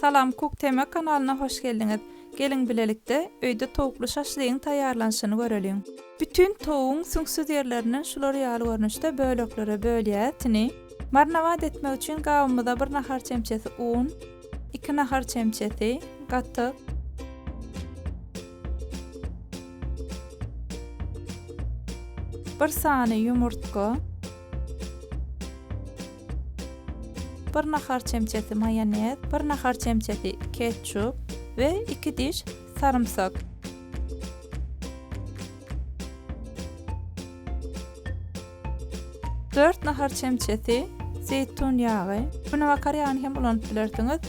Salam Kuk Tema kanalyna hoş geldiňiz. Geliň bilelikde öýde towukly şaşlygyň taýýarlanyşyny göreliň. Bütin towugyň süňksüz ýerlerinden şular ýaly görnüşde böleklere bölýäs. Tini. Marnowat etmek üçin gabymyza bir nahar çemçesi un, iki nahar çemçesi gatyk, bir sany ýumurtga, bir nahar çemçesi maýonez, bir nahar çemçesi ketçup we iki diş sarymsak. Dört nahar çemçesi zeýtun ýagy. Buna bakar ýagyny hem ulanyp bilersiňiz.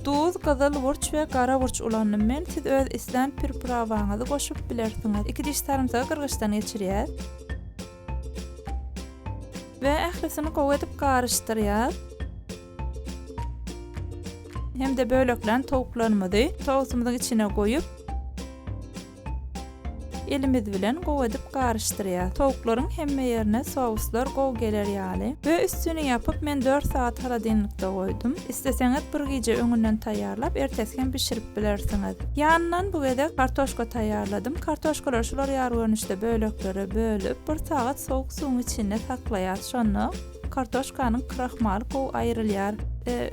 Duz, gyzyl burç we gara burç ulandym men. Siz öz islän pirprawaňyzy goşup bilersiňiz. Iki diş sarymsagy gyrgyçdan geçirýäs. we ählisini gowy edip garyşdyrýas. Hem-de böleklän towuklarymyzy sosumyzyň içine goýup, elimiz bilen gowy edip garyşdyrýas. Towuklaryň hemme ýerine souslar gowy geler ýaly we üstüni ýapyp, men dört sagat holodilnikde goýdum. Isleseňiz bir gije öňünden taýýarlap, ertesi hem bişirip bilersiňiz. Ýanyndan bu gezek kartoşka taýýarladym. Kartoşkalary şular ýaly görnüşde böleklere bölüp, bir sagat sowuk suwuň içinde saklaýarys. Şonda kartoşkanyň krahmaly gowy aýrylýar.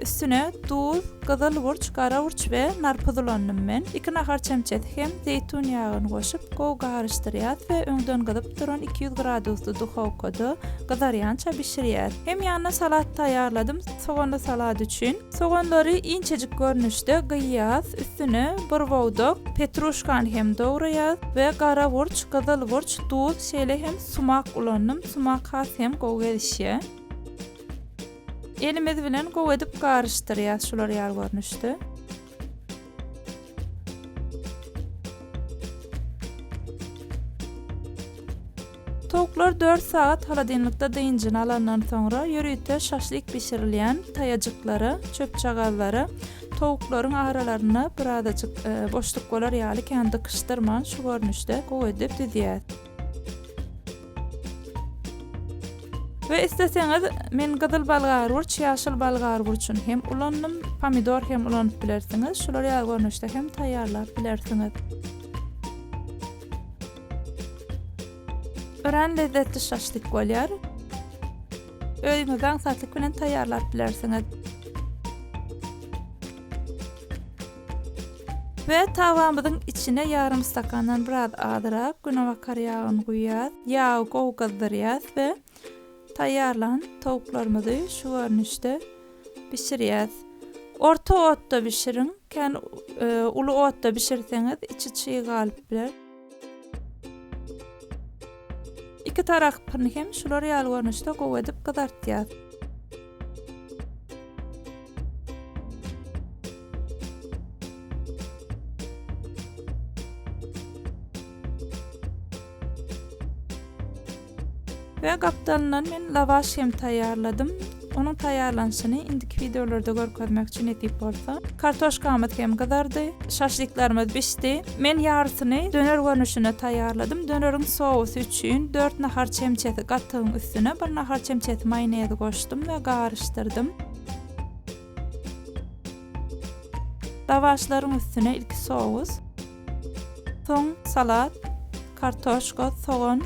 Üstüne duz, gyzyl burç, gara burç we nar puzulandym men. Iki nahar çemçesi hem zeýtun ýagyny goşup, gowy garyşdyrýarys we öňden gyzyp duran iki ýüz gradusly duhowkada gyzarýança bişirýäris. Hem ýanyna salat taýýarladym. Soganly salat üçin, soganlary inçejik görnüşde gyýýas, üstüne bir bowdak petruşkany hem dograýas we gara burç, gyzyl burç, duz, şeýle hem sumak ulandym, sumak has hem gowy gelişýä. Elimiz bilen gowy edip garyşdyrýas şular ýaly görnüşde. Towuklar dört sagat holodilnikde dynjyny alandan soňra, ýörite şaşlik bişirilýän taýajyklara, çöpjagazlara, towuklaryň aralaryna birazajyk boşluk bolar ýaly kän dykyşdyrman, şu görnüşde gowy edip düzýär. We isleseňiz men gyzyl bolgarwurç, ýaşyl bolgarwurçyny hem ulandym, pomidor hem ulanyp bilersiňiz, şular ýaly görnüşde hem taýýarlap bilersiňiz. Örän lezzetli şaşlik bolýar. Öýüňizde aňsatlyk bilen taýýarlap bilersiňiz. We tawamyzyň içine ýarym stakandan biraz azyrak günebakar ýagyny guýýas. Ýagy gowy gyzdyrýas we taýýarlan towuklarymyzy şu görnüşde bişirýäs. Orta otda bişiriň, kän uly otda bişirseňiz içi çyg galyp biler. Iki tarapyny hem şular ýaly görnüşde gowy edip gyzartýas. We gapdalyndan men lawaş hem taýýarladym. Onuň taýýarlanyşyny indiki wideolarda görkezmekçi nesip bolsa. Kartoşkamyz hem gyzardy. Şaşlyklarymyz bişdi. Men ýarysyny döner görnüşinde taýýarladym. Döneriň sousy üçin dört nahar çemçesi gatygyň üstüne bir nahar çemçesi maýonezi goşdum we garyşdyrdym. Lawaşlaryň üstüne ilki sous. Soň salat, kartoşka, sogan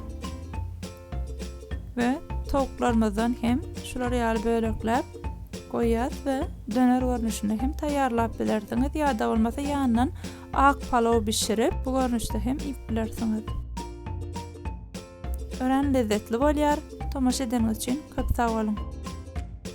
we towuklarymyzdan hem şular ýaly bölekläp goýýas we döner görnüşinde hem taýýarlap bilersiňiz ýa-da bolmasa ýanyndan ak palaw bişirip bu görnüşde hem iýip bilersiňiz. Örän lezzetli bolýar. Tomaşa edeniňiz üçin köp sag boluň.